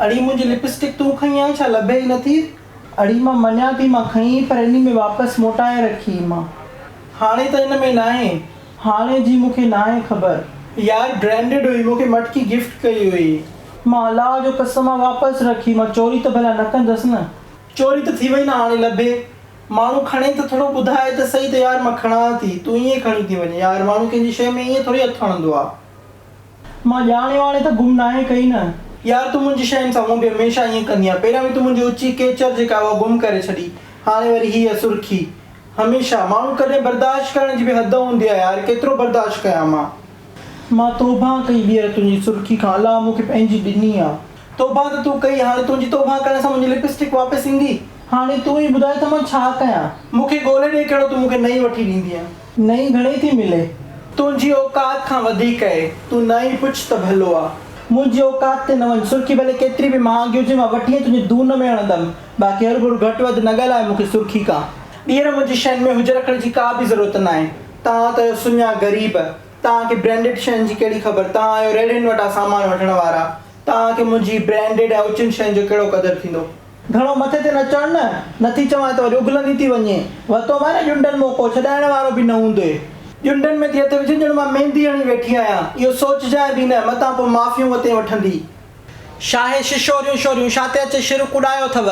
اڙي منهنجي لپسٽڪ تون کنئي آهي ڇا لڀي ئي نٿي. اڙي مان مڃان ٿي مان کنئي پر انهي ۾ واپس موٽائي رکي مان. هاڻي ته ان ۾ ناهي. هاڻي جي مون کي ناهي خبر. يار برينڊڊ هئي مون کي مٽڪي گفٽ ڪئي هئي. مان الله جو قسم آ واپس رکي مان چوري ته ڀلا نه ڪندس نه. چوري ته ٿي وئي نه هاڻي لڀي ماڻهو کڻي ته ٿورو ٻڌائي ته سهي ته يار مان کڻان ٿي تون ائين کڻي ٿي وڃين يار ماڻهو ڪنهن جي شيء ۾ ائين ٿوري هٿ هڻندو آ. مان ڄاڻي واڻي ته گم ناهي ڪئي نه. يار تون منهنجي شين سان هونء به هميشه ائين ڪندينء پهريان به تون منهنجي اچي ڪيچر جيڪا هئا گم ڪري ڇڏي هاڻي وري هيء سرخي. هميشه. ماڻهو ڪڏهن برداشت ڪرڻ جي به حد هوندي آهي يار ڪيترو برداشت ڪيان مان. مان توبه ڪئي ٻيهر تنهنجي سرخي کان الله مون کي پنهنجي ڏني آ. توبه ته تون ڪئي هاڻي تنهنجي توبه ڪرڻ سان منهنجي لپسٽڪ واپس ايندي. هاڻي تون ئي ٻڌاء ته مان ڇا ڪيان. مون کي ڳولهي ڏي ڪهڙو تون مون کي نئين وٺي ڏيندينء. نئين گهڻي ٿي ملي. تنهنجي اوقات کان وڌيڪ اهي. تون نه ئي پڇ ته ڀلو آ. منهنجي اوقات تي نه وڃ. سرخي ڀلي ڪيتري به مهانگي هجي مان وٺي ۽ تنهنجي دون ۾ هڻندم. باقي هر گهڙ گهٽ وڌ نه ڳالهاء مون کي سرخي کا. ٻيهر منهنجي شين ۾ هجر رکڻ جي ڪا به ضرورت ناهي. توهان ته آهيو سڃا غريب. توهان کي برينڊڊ شين جي ڪهڙي خبر. توهان آهيو ريڙهين وٽان سامان وٺڻ وارا. توهان کي منهنجي برينڊڊ ۽ اچين شين جو ڪهڙو قدر ٿيندو. گهڻو مٿي تي نه چڙهه نه. نه ٿي چوانء ته وري اگهلندي ٿي وڃين. ورتو مانء نه ڄنڊن موقعو ڇڏائڻ وارو به نه هوندئي. ڄنڊن ۾ ٿي هٿ وجهين ڄڻ مان ميندي هڻي ويٺي آهيان. اهو سوچجانء به نه. متان پوء معافيون وتين وٺندي. شاهه ششوريون شوريون شاته اچي شرڪ اڏايو ٿو.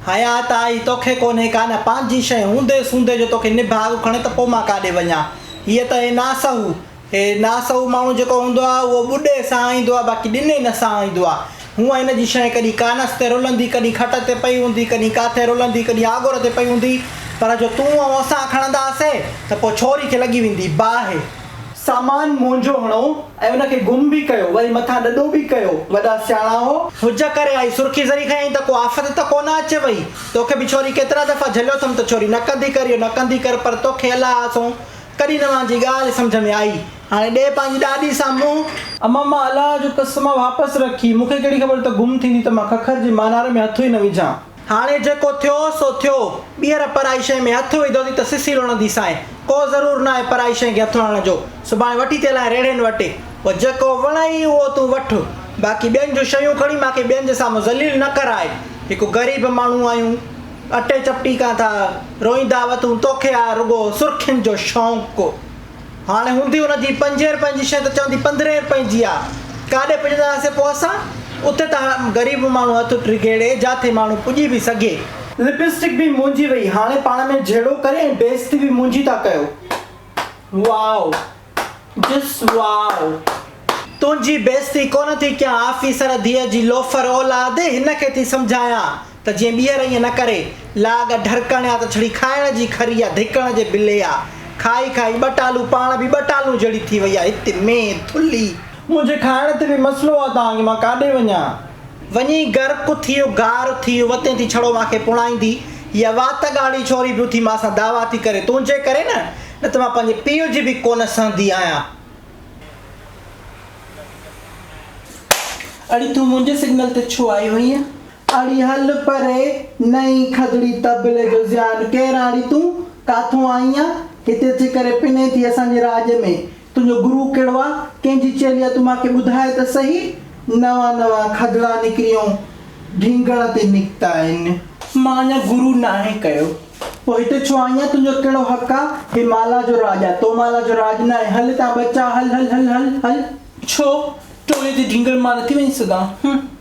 حيات آئي توکي ڪونهي ڪا نه پنهنجي شيء هوندي سوندي جو توکي نڀاڳ کڻي ته پوء مان ڪاڏي وڃان. هيء ته هي ناسهو هي ناسهو ماڻهو جيڪو هوندو آ اهو ٻڏي سهائيندو آ باقي ڏني نه سهائيندو آ. هونء هن جي شيء ڪڏهن ڪانس تي رلندي ڪڏهن کٽ تي پئي هوندي ڪڏهن ڪاٿي رلندي ڪڏهن آڳر تي پئي هوندي پر جو تون آئون اسان کڻندا سين ته پوء ڇوري کي لڳي ويندي باهه. سامان مونجهو هڻو ۽ ان کي گم به ڪيو، وري مٿان ڏڏو به ڪيو، وڏا سياڻا هئو. هج ڪري آئي سرخي زري کنيائين ته ڪو آفت ته ڪونه اچي وئي. توکي به ڇوري ڪيترا دفعا جهليو اٿم ته ڇوري نه ڪندي ڪر اهو نه ڪندي ڪر پر توکي الا آسون ڪڏهن نه مانجي ڳالهه سمجهه ۾ آئي. هاڻي ڏي پنهنجي ڏاڏي سان منهن. اما مان الا جو قسم واپس رکي. مونکي ڪهڙي خبر ته گم ٿيندي ته مان ککر جي مانار ۾ هٿ ئي نه وجهان. هاڻي جيڪو ٿيو سو ٿيو، ٻيهر پرائي شيء ۾ هٿ وڌو ٿي ته سسي لڻندي سانء. ڪو ضرور ناهي پرائي شيء کي هٿ هڻڻ جو. سڀاڻي وٺي ٿي هلانء ريڙهين وٽ. پوء جيڪو وڻئي اهو تون وٺ. باقي ٻين جون شيون کڻي مان کي ٻين جي سامهون ذليل نه ڪراء. هڪ غريب ماڻهو آهيون. اٽي چپٽي ڪان ٿا. روئيندا وٿون توکي آ رڳو سرخين جو شونق. هاڻي هوندي ان جي پنجين رپين جي شيء ته چوندي پندرهين رپين جي آ. ڪاڏي پڄندا هئاسين پوء اسان؟ اتي ته هاڻ غريب ماڻهو هٿ ڊگهيڙي جاٿي ماڻهو پڄي به سگهي. لپسٽڪ به منهنجي وئي. هاڻي پاڻ ۾ جهيڙو ڪري ۽ بيعزتي به منهنجي ٿا ڪيو. واو. جس واو. تنهنجي بيعزتي ڪونه ٿي ڪيان آفيسر ڌيء جي لوفر اولاد هن کي ٿي سمجهايان ته جيئن ٻيهر ائين نه ڪري، لاڳ ڍرڪڻ يا ته ڇڙي کائڻ جي کري يا ڌڪڻ جي بلي آ. کائي کائي ٻه ٽالون پاڻ به ٻه ٽالون جهڙي ٿي وئي آ. هت مين ٿلهي. منهنجي کائڻ تي به مسئلو آ توهان کي، مان ڪاڏي وڃان؟ وڃي غرق ٿي گار ٿي وتين ٿي ڇڙو مان کي پوڻائيندي. هيء وات ڳاڙهي ڇوري به اٿي مان سان دعويٰ ٿي ڪري، تنهنجي ڪري نه، نه ته مان پنهنجي پيء جي به ڪونه سهندي آهيان. اڙي تون منهنجي سگنل تي ڇو آئي هئينء؟ اڙي هل پري نئين کدڙي طبلي جو زيان ڪير آڻي تون ڪاٿون آئين آ هتي اچي ڪري پنين ٿي اسان جي راڄ ۾ تنهنجو گرو ڪهڙو آ ڪنهن جي چيلي آ تون مان کي ٻڌاء ته سهي نوان نوان کدڙا نڪريون ڍينگڻ تي نڪتا آهن. مان اڃا گرو ناهي ڪيو پوء هتي ڇو آئين آ تنهنجو ڪهڙو حق آ هي مالا جو راڄ آ تومالا جو راڄ ناهي هل هتان ٻچا هل هل هل هل هل. ڇو ٽولي جي ڍينگڻ مان نٿي وڃي سگهان هه.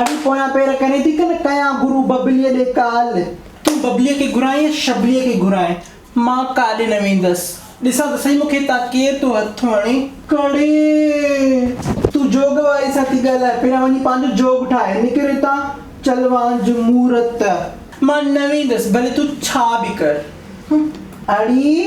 اڙي پويان پير ڪرين ٿي ڪن ڪيان گرو ببليء ڏي ڪال. تون ببليء کي گهرائين يا شبليء کي گهرائين مان ڪا ڏي نه ويندس. ڏسان ته سهي مون کي هتان ڪير ٿو هٿ هڻي ڪڍي. تون جوڳ واري سان ٿي ڳالهائين پهريان وڃي پنهنجو جوڳ ٺاهه نڪر هتان چل وانجهه مورت. مان نه ويندس ڀلي تون ڇا به ڪر. اڙي!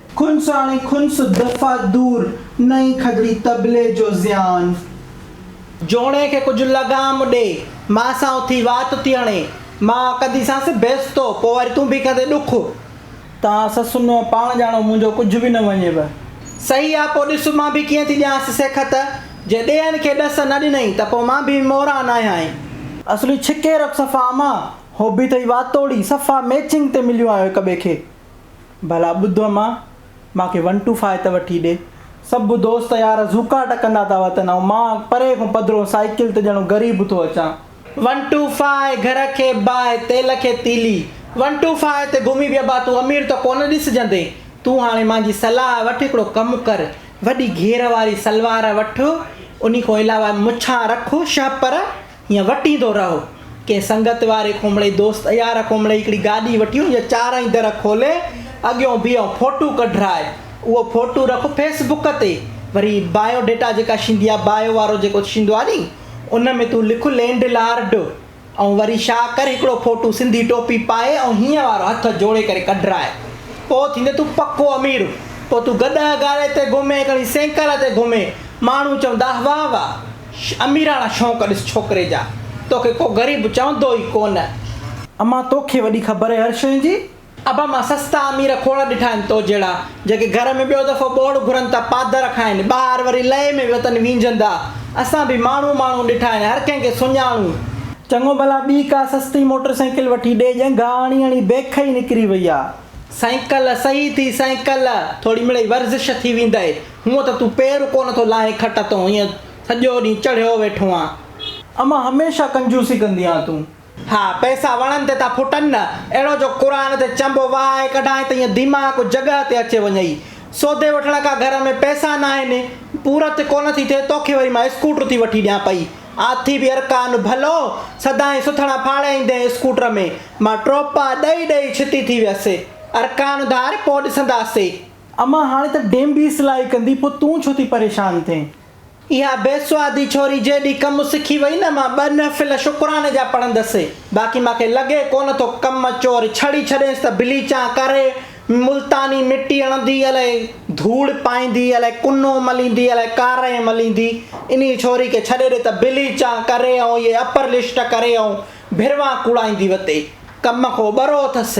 کنس آڻي کنس دفع دور، نئين کدڙي طبلي جو زيان. جوڻي کي ڪجهه لغام ڏي، مان سان اٿي وات ٿي هڻي، مان ڪنديسانس بيستو، پوء وري تون به ڪندين ڏک. تان سسنو پاڻ ڄاڻو، منهنجو ڪجهه به نه وڃيو. صحيح آ، پوء ڏس مان به ڪيئن ٿي ڏيانس سيکت، جي ڏيهن کي ڏس نه ڏنئين، ته پوء مان به موران ناهيان. اصلي ڇڪي رک صفا امان، هو به اٿئي واتوڙي، صفا ميچنگ تي مليون آهيو هڪ ٻئي کي. ڀلا ٻڌ اما، مان کي ون ٽو فائو ته وٺي ڏي. سڀ دوست يار زوڪا ٽڪندا ٿا وتن ۽ مان پري کان پڌرو سائيڪل تي ڄڻو غريب ٿو اچان. ون ٽو فائو گهر کي باء، تيل کي تيلي. ون ٽو فائو تي گهمي به ابا تون امير ته ڪونه ڏسجندين. تون هاڻي مانجي صلاح وٺ هڪڙو ڪم ڪر، وڏي گهير واري سلوار وٺ، انهي کان علاوه مڇان رک، شهپر، ائين وٽيندو رهو. ڪنهن سنگت واري کومڙي، دوست يار کومڙي هڪڙي گاڏي وٺيون يا چارئي در کولي اڳيون بيهه ڦوٽو ڪڍرائي اهو ڦوٽو رک فيس بڪ تي وري بايو ڊيٽا جيڪا شيندي آ بايو وارو جيڪو شيندو آ ني ان ۾ تون لک لينڊ لارڊ ۽ وري شا ڪر هڪڙو ڦوٽو سنڌي ٽوپي پائي ۽ هيئن وارو هٿ جوڙي ڪري ڪڍرائي پو ٿيندي تون پڪو امير پو تون گڏهه گاڏي تي گهمي ڪڻي سينڪل تي گهمي ماڻهو چوندا واهه واهه. اميراڻا شونق ڏس ڇوڪري جا، توکي ڪو غريب چوندو ئي ڪونه. امان توکي وڏي خبر آهي هر شين جي. ابا مان سستا امير کوڙ ڏٺا آهن تو جهڙا جيڪي گهر ۾ ٻيو دفعو ٻوڙ گهرن ته پادر کائن ٻاهر وري لئي ۾ وتن وينجهندا اسان به ماڻهو ماڻهو ڏٺا آهن هر ڪنهن کي سڃاڻون. چڱو ڀلا ٻي ڪا سستي موٽر سائيڪل وٺي ڏي ڄنگهه اڻي اڻي بيک ئي نڪري وئي آ. سائيڪل صحيح ٿي سائيڪل ٿوري مڙئي ورزش ٿي ويندئي. هونء ته تون پير ڪو نه ٿو لاهي کٽ تان ائين سڄو ڏينهن چڙهيو ويٺو آن. امان هميشه ڪنجوسي ڪندي آن تون. ها پئسا وڻن تي ٿا ڦٽن نه. اهڙو جو قرآن تي چنبو وهائي ڪڍانء ته ائين ديماغ ڪو جڳهه تي اچي وڃئي. سودي وٺڻ کا گهر ۾ پئسا ناهن. پورت ڪو نه ٿي ٿئي توکي وري مان اسڪوٽر ٿي وٺي ڏيان پئي. آٿي به ارڪان ڀلو. سدائين سٿڻا ڦاڙي ايندين اسڪوٽر ۾. مان ٽوپا ڏئي ڏئي ڇتي ٿي ويس. ارڪان ڌار پوء ڏسنداسين. امان هاڻي ته ڊيم به اصلاحي ڪندي پوء تون ڇو ٿي پريشان ٿين. اها بيسوادي ڇوري جيڏي ڪم سکي وئي نه مان ٻه نفل شڪراني جا پڙهندس باقي مان کي لڳي ڪونه ٿو ڪم چور ڇڙي ڇڏينس ته بليچان ڪري ملتاني مٽي هڻندي الائي ڌوڙ پائيندي الائي ڪنو مليندي الائي ڪارنهن مليندي انهي ڇوري کي ڇڏي ڏي ته بليچان ڪري ۽ اهي اپر لسٽ ڪري ۽ ڀروان ڪوڙائيندي وتي ڪم ڪو ٻرو اٿس.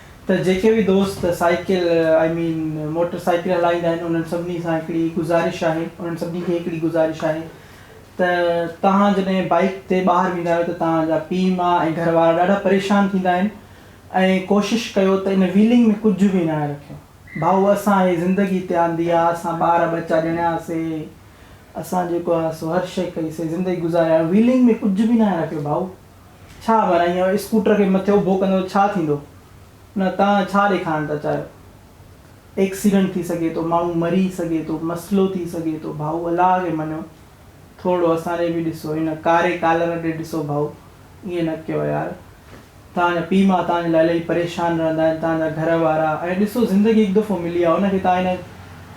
ته جيڪي به دوست cycle I mean motorcycle هلائيندا آهن انهن سڀني سان هڪڙي گذارش آهي انهن سڀني کي هڪڙي گذارش آهي ته توهان جڏهن بائيڪ تي ٻاهر ويندا آهيو ته توهان جا پيء ماء ۽ گهر وارا ڏاڍا پريشان ٿيندا آهن ۽ ڪوشش ڪيو ته ان ويلنگ ۾ ڪجهه به نه رکيو ڀائو اسان هي زندگي هتي آندي آهي اسان ٻار ٻچا ڄڻياسي اسان جيڪو آهي سو هر شئي ڪئي سي زندگي گذاري آهيون ويلنگ ۾ ڪجهه به نه رکيو ڀائو. ڇا ڀلا ائين اسڪوٽر کي مٿي اڀو ڪندو ته ڇا ٿيندو؟ نه توهان ڇا ڏيکارڻ ٿا چاهيو؟ ايڪسيڊنٽ ٿي سگهي ٿو، ماڻهو مري سگهي ٿو، مسئلو ٿي سگهي ٿو، ڀائو الله کي مڃو، ٿورڙو اسان ڏي به ڏسو، هن ڪاري ڪالر ڏي ڏسو ڀائو، ائين نه ڪيو يار، توهان جا پيء ماء توهان جي لاء الائي پريشان رهندا آهن، توهان جا گهر وارا، ۽ ڏسو زندگي هڪ دفعو ملي آهي ان کي توهان هن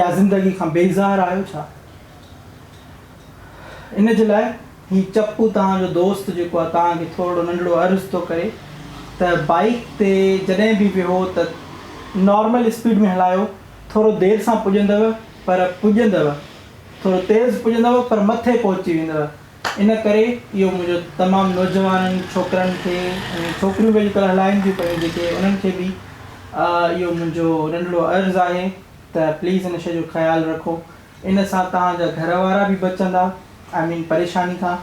يا زندگي کان بيزار آهيو ڇا؟ ان جي لاء هي چپو توهان جو دوست جيڪو آهي توهان کي ٿورڙو ننڍڙو عرض ٿو ڪري ته بائيڪ تي جڏهن به ويهو ته نارمل اسپيڊ ۾ هلايو ٿورو دير سان پڄندو پر پڄندو ٿورو تيز پڄندو پر مٿي پهچي ويندو ان ڪري اهو منهنجو تمام نوجوانن ڇوڪرن کي ۽ ڇوڪريون به اڄڪلهه هلائين ٿيون پيون جيڪي انهن کي به اهو منهنجو ننڍڙو عرض آهي ته پليز ان شيء جو خيال رکو ان سان توهان جا گهر وارا به بچندا آئي مين پريشاني کان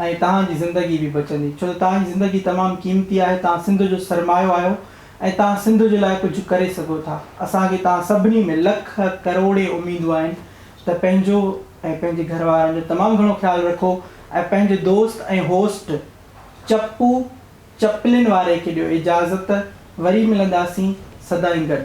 ۽ توهان جي زندگي به بچندي ڇو ته توهان جي زندگي تمام قيمتي آهي توهان سنڌ جو سرمايو آهيو ۽ توهان سنڌ جي لاء ڪجهه ڪري سگهو ٿا اسان کي توهان سڀني ۾ لک ڪروڙين اميدون آهن ته پنهنجو ۽ پنهنجي گهر وارن جو تمام گهڻو خيال رکو ۽ پنهنجي دوست ۽ هوسٽ چپو چپلين واري کي ڏيو اجازت وري ملنداسين سدائين گڏ.